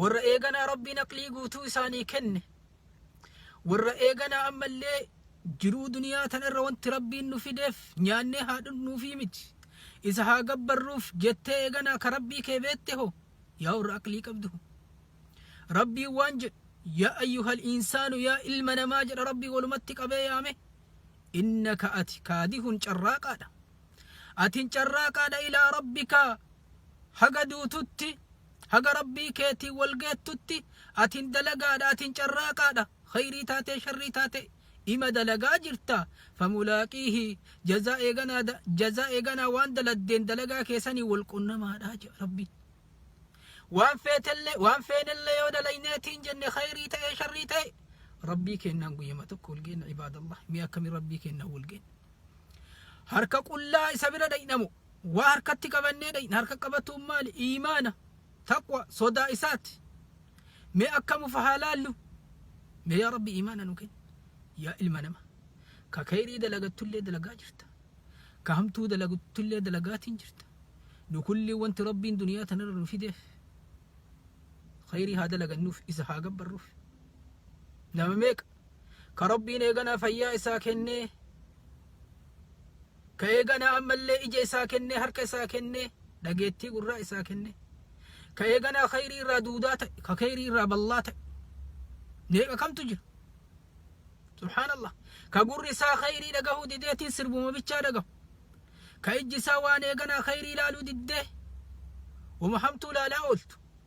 warra eeganaa rabbiin aqlii guutuu isaanii kenne warra eeganaa ammallee jiruu duniyaa tanarra wanti rabbiin nu fideef nyaannee haa dhugnuufii miti isa haa gabbarruuf jettee eeganaa ka rabbii kee beette hoo yaa warra aqlii qabdu hoo rabbiin waan jedhu yaa ayyuhal insaanu yaa ilma namaa jedha rabbii walumatti qabee yaame innaka ati kaadihun carraaqaadha atin carraaqaadha ilaa rabbika haga duututti haga rabbii keetiin wal geettutti atin dalagaadha atin carraaqaadha khayrii taatee sharrii taate ima dalagaa jirta famulaaqiihi jazaa eeganaa da- jazaa eeganaa waan daladdeen dalagaa keessanii wal qunnamaadha jedha rabbiin waan feetellee waan feenellee yoo dalayneetiin jenne khayrii ta'ee sharrii ta'e rabbii kennaan guyyama tokko wal geenna ibaadallah mee akkamii rabbii kennaan wal geenna harka qullaa isa bira dhaqnamo waa harkatti qabannee dhaqna harka qabatuun maali iimaana taqwa sodaa isaati mee akkamuuf haa laallu mee yaa rabbi iimaana nu kenni yaa ilma nama ka kayrii dalagattullee dalagaa jirta ka hamtuu dalagattullee dalagaatiin jirta nu kulli wanti rabbiin duniyaa tanarra nu fideef kayrii haa dalagannuuf isa haa gabbarruuf nama meeqa ka Rabbiin eeganaa fayyaa isaa kennee ka eeganaa ammallee ija isaa kennee harka isaa kennee dhageettii gurraa isaa kennee ka eeganaa khayrii irraa duudaa ta'e ka khayrii irraa ballaa ta'e meeqa kamtu jira subhaanallah ka gurri isaa khayrii dhagahuu dideetiin sirbuma bichaa dhagahu ka ijji isaa waan eeganaa khayrii ilaaluu diddee wama hamtuu ilaalaa ooltu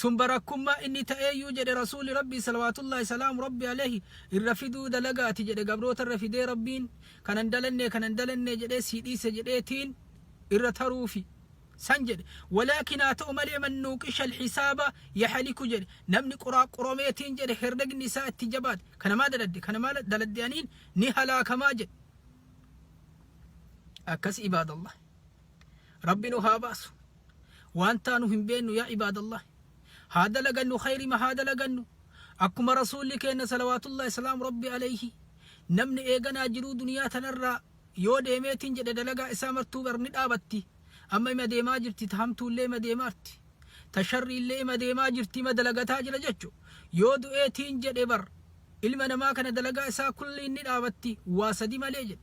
Sun barakkummaa inni ta'eeyyuu jedhe Rasuulli Rabbii salawaatullaahi salaamu Rabbi aleeyhi irra fiduu dalaga ati jedhe gabroota irra fidee Rabbiin kana hin dalannee kana hin dalannee jedhee sii dhiise jedhee tiin irra taruufi san jedhe walaakin haa ta'u malee man nuuqisha alhisaaba yahaliku jedhe namni quraaqquromee tiin jedhe herregni isaa itti jabaate kana maa daladde kana maa daladde aniin ni halaakamaa jedhe akkas ibaadallah Rabbi nu haa baasu waan taanu hin beennu yaa ibaadallah haa dalagannu khayrima haa dalagannu akkuma rasuulli keenna salawaatullah islaam rabbi alayhi namni eeganaa jiruu duniyaa tanarraa yoo deemeetiin jedhe dalagaa isaa martuu bar ni dhaabatti amma ima deemaa jirti ta hamtuullee ima deemaarti ta sharriillee ima deemaa jirti ima dalagataa jira jechu yoo du'eetiin jedhe bar ilma namaa kana dalagaa isaa kulliin ni dhaabatti waa sadi malee jedhe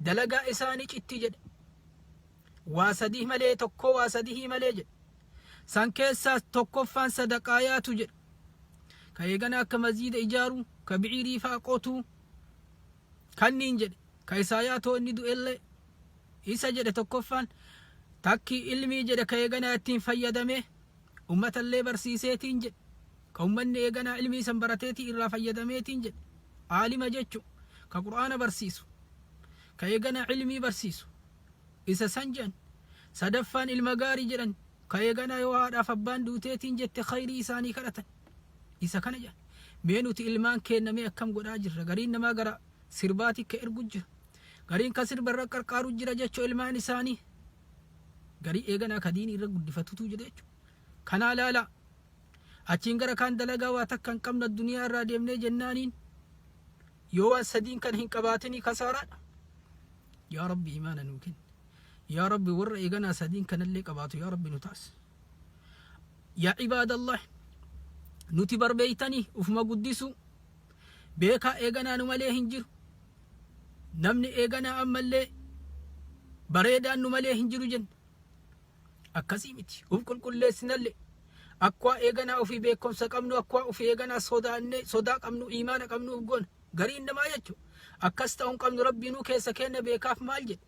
Dalagaa isaanii citti jedhe. Waa sadih malee tokkoo waa sadihii malee jedhe. San keessaas tokkoffaan sadaqaayaatu jedhe. Ka eegana akka masjiida ijaaru, ka biciirii faa qotu, kanniin jedhe. Ka isaayaatoo inni du'ellee isa jedhe tokkoffaan. Takki ilmii jedhe ka eeganaa ittiin fayyadamee. Ummatallee barsiiseetiin jedhe. Ka ummanni eeganaa ilmii san barateetii irraa fayyadameetiin jedhe. Aalima jechuun ka Qur'aana barsiisu, ka eeganaa ilmii barsiisu isa san jedhan. Sadaffaan ilma gaarii jedhan ka eeganaa yoo haadhaaf abbaan duuteetiin jette khayrii isaanii kadhatan. Isa kana jedhan. Mee nuti ilmaan keenna mee akkam godhaa jirra? Gariin namaa gara sirbaatii ka ergu jira. Gariin ka sirba irra qarqaaru jira jechuu ilmaan isaanii. Garii eeganaa ka diinii irra guddifatutuu jira jechuudha. Kanaa laalaa. Achiin gara kaan dalagaa waa takka hin qabna duniyaa irraa deemnee jennaaniin yoo waan sadiin kan hin qabaatinii kasaaraadha. Yaa Rabbi imaana nuu kenni. Yaa Rabbi warra eeganaa sadiin kanallee qabaatu yaa Rabbi nu taasi. Yaa ibaadallah nuti barbeeytanii ufuma guddisuu Beekaa eeganaa nu malee hin jiru. Namni eeganaa ammallee bareedaan nu malee hin jiru jenna. Akkasii miti. Uf qulqulleessinallee. Akkuma eeganaa ofii beekumsa qabnu, akkuma ofii eeganaa sodaannee, sodaa qabnu, imaana qabnu uf goona. Gariin namaa jechuudha. Akkas ta'uu hin qabnu rabbiinuu keessa keenya beekaaf maal jedhe?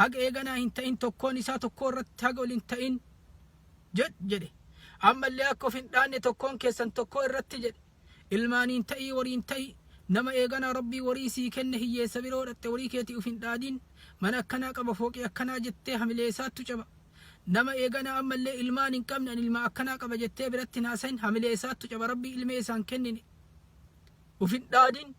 haga eeganaa hin ta'in tokkoon isaa tokkoo irratti haga ol hin ta'in jedh jedhe ammallee akka of hin dhaanne tokkoon keessan tokkoo irratti jedhe ilmaaniin ta'ii wariin ta'ii nama eeganaa rabbii warii sii kenne hiyyeessa biroo dhatte warii keetii uf hin dhaadin mana akkanaa qaba fooqii akkanaa jettee hamilee isaattu caba nama eeganaa ammallee ilmaan hin qabne an ilmaa akkanaa qaba jettee biratti hin haasayin hamilee isaattu caba rabbii ilmee isaan kennine uf hin dhaadin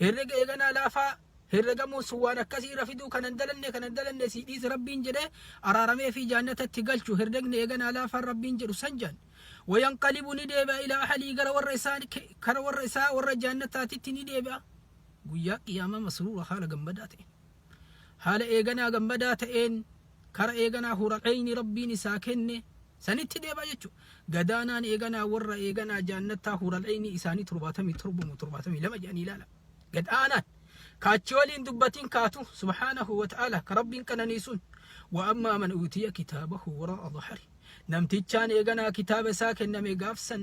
Herrega eeganaa laafaa herregamuun sun waan akkasii irra fiduu kanan dalanne kanan dalanne sii dhiise rabbiin jedhee araaramee fi jaannatatti galchu herregni eeganaa laafaan rabbiin jedhu san jaan. Wayanqalibu ni deebi'a ilaa ahalii gara warra isaa kara warra isaa warra jaannataatitti ni deebi'a. Guyyaa qiyaamaa masruura haala gammadaa ta'e. Haala eeganaa gammadaa ta'een kara eeganaa Huural'eeyni Rabbiin isaa kenne sanitti deema jechu. Gadaanaan eeganaa warra eeganaa jaannattaa Huural'eeyni isaanii 77 mo 72 jedhanii ilaala. Gad aanaan ka achi waliin dubbatiin kaatu subhaanahu wa ta'aala ka Rabbiin qananiisuun wa ammaa man uutiya kitaabahu waraa'a dhahari. Namtichaan eeganaa kitaaba isaa kenname gaafsan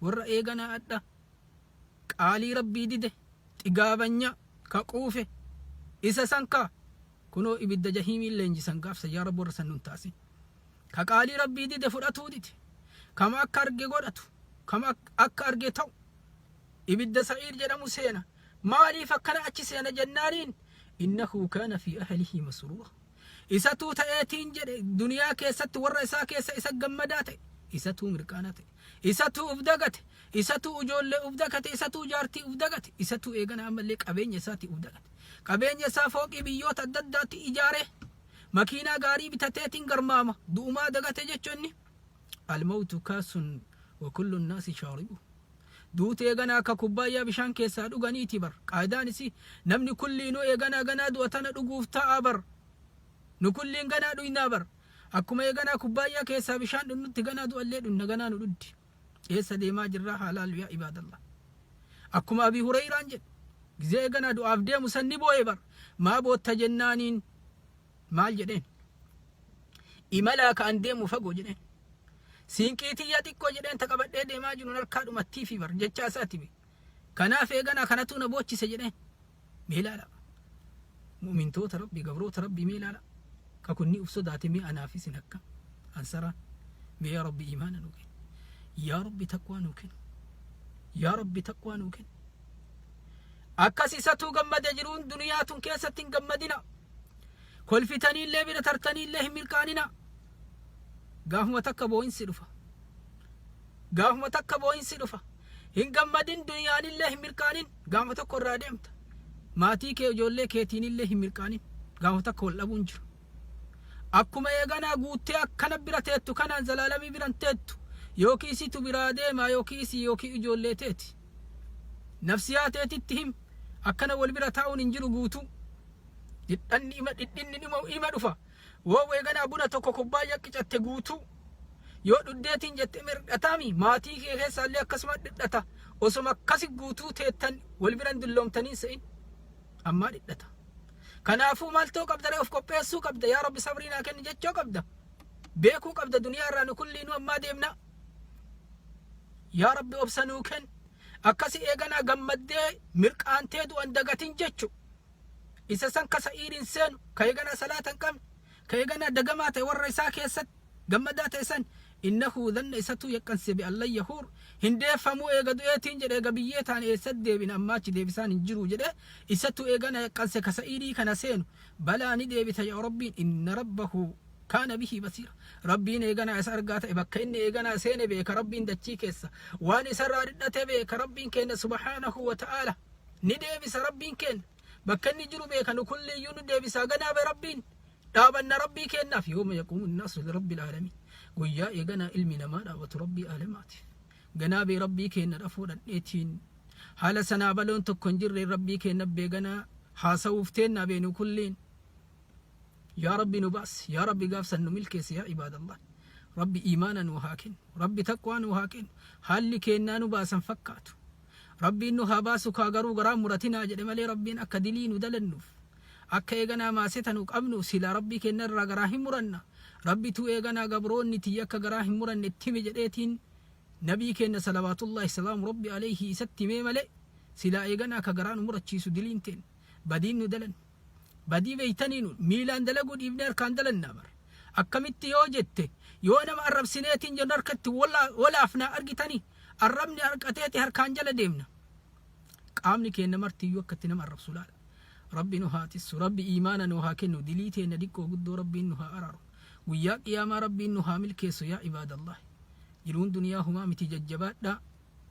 warra eegana adha qaalii rabbii dide xigaabanya ka quufe isa san ka kunoo ibidda jahiimiin leenjisan gaafsa yaa rabbi warra san nun taasi ka qaalii rabbii dide fudhatuu dide kama akka arge godhatu kama ak- akka arge ta'u ibidda sa'iir jedhamu seena maaliif akkana achi seena jennaaniin innahu kaana fi ahlihi masruura isatuu ta'eetiin jedhe duniyaa keessatti warra isaa keessa isa gammadaa ta'e isatuu mirqaana ta'e Isatuu uf dagate, isatuu ujoollee uf dakate, isatuu jaartii uf dagate, isatuu eegana ammallee qabeenya isaatii uf dagate. Qabeenya isaa fooqii biyyoota adda addaatti ijaaree, makiinaa gaarii bitateetiin garmaama. Du'umaa dagate jechuun inni. Almawtu kaasun wa kullun naasi shaaribu. Duuti eegana akka kubbaayyaa bishaan keessaa dhuganiiti bar. Qaayidaan isii namni kulliinuu eeganaa ganaa du'a tana dhuguuf ta'a bar. Nu kulliin ganaa dhuynaa bar. Akkuma eeganaa kubbaayyaa keessaa bishaan dhunnutti ganaa du'allee dhunna ganaa nu dhuddi. Eessa deemaa jirraa haa laallu yaa ibaadallah. Akkuma Abii Hureeyraan jedhe gizee eeganaa du'aaf deemu san ni booye bar maa bootta jennaaniin maal jedheen. Imalaa ka an deemu fagoo jedheen. Siinqii tiyya xiqqoo jedheen ta qabadhee deemaa jiruun harkaa dhumattiifi bar jechaa isaati bee. Kanaaf eeganaa kanatu na boochise jedheen. Mee ilaala. Mu'mintoota Rabbii, gabroota Rabbii mee ilaala. Ka kunni uf sodaate mee anaaf isin akka. Ansaraan. Mee yaa Rabbi imaana nu kenni. Yaa Rabbi taqwaa nu kenni. Yaa Rabbi taqwaa nu kenni. Akkas isatuu gammade jiruun duniyaa tun keessatti hin gammadina. Kolfitanii illee bira tartanii illee hin milkaanina. Gaafuma takka boo'insi dhufa. Gaafuma takka boo'insi dhufa. Hin gammadin dunyaanillee hin mirqaanin gaama tokko irraa deemta. Maatii kee ijoollee keetiinillee hin mirqaanin gaama tokko wal dhabuun jiru. Akkuma eeganaa guuttee akkana bira teettu kanaan zalaalamii biran teettu yookiin situ biraa deemaa yookiin isii yookiin ijoollee teeti. Nafsiyaa teetitti him akkana wal bira taa'uun hin jiru guutuu. Dhidhanni ima dhidhinni dhuma ima dhufa Woow eeganaa buna tokko kubbaayya qicatte guutuu yoo dhuddeetiin jette mirdhataami maatii kee keessaallee akkasuma dhidhata osoma akkasi guutuu teettan wal biran dulloomtaniin se'in ammaa dhidhata kanaafuu maaltoo qabdaree of qopheessuu qabda yaa rabbi sabrii naa kenni jechoo qabda beekuu qabda duniyaa irraa nu kulliinuu ammaa deemna yaa rabbi obsa nuu kenni akkasi eeganaa gammaddee mirqaantee du'an dagatin jechu isa san ka sa'iidiin seenu ka eeganaa salaata hin qabne ka eeganaa dagamaa ta'e warra isaa keessatti gammadaa ta'e san innahu dhanna isatuu yaqqanse bi allan yahuur hin deeffamuu eega du'eetiin jedhe eega biyyee taan eessatti deebina ammaa achi deebisaan hin jiruu jedhe isatu eegana yaqqanse ka sa'iidii kana seenu balaa ni deebita yaa rabbiin inna rabbahu kaana bihi basiira rabbiin eeganaa isa argaa ta'e bakka inni eeganaa seene beeka rabbiin dachii keessa waan isarraa dhidhate beeka rabbiin keenya subhaanahu wa ta'aala Ni deebisa Rabbiin keenna. Bakka inni jiru beeka nu kulliyyuu nu deebisaa ganaabe Rabbiin. Dhaabanna Rabbii keennaaf yooma yaquumu naasu lirabbil aalamiin. Guyyaa eeganaa ilmi namaa dhaabatu Rabbii aalamaatiif. Ganaabee Rabbii keenna dhafuu dhadheetiin. Haala sanaa baloon tokko hin jirreen Rabbii keenna beeganaa haasawuuf teennaa bee nu kulliin. Yaa Rabbi nu baas, yaa Rabbi gaafsan nu milkeessi yaa ibaadallah. Rabbi iimaana nuu haa kennu, Rabbi taqwaa nuu haa kennu. Haalli keennaa nu baasan fakkaatu. Rabbiin nu haa baasu kaa garuu garaan muratinaa jedhe malee Rabbiin akka dilii nu dalannuf akka eeganaa maaseta nu qabnu silaa Rabbii keenna irraa garaa hin muranna Rabbituu eeganaa gabroonni tiyya akka garaa hin muranne itti himi jedheetiin Nabii keenna salawaatullaahi salaamu Rabbi aleyhii isatti himee malee silaa eeganaa ka garaa nu murachiisu diliin teenna badiin nu dalanne Badii beektanii nuun miilaan dalaguu dhiifnee harkaan dalannaa bar. Akkamitti yoo jette yoo nama arrabsineetiin jennu harka itti wolaafnaa argitanii arrabni harqateeti harkaan jala deemna. Qaamni keenna martiyyuu akka itti nama arrabsu laala. Rabbi nu haa tissu, Rabbi iimaana nu haa kennu, dilii teenna diqqoo guddoo Rabbiin nu haa araaru. Guyyaa qiyaamaa Rabbiin nu haa milkeessu yaa ibaadallahi. Jiruun duniyaa humaa miti jajjabaadhaa.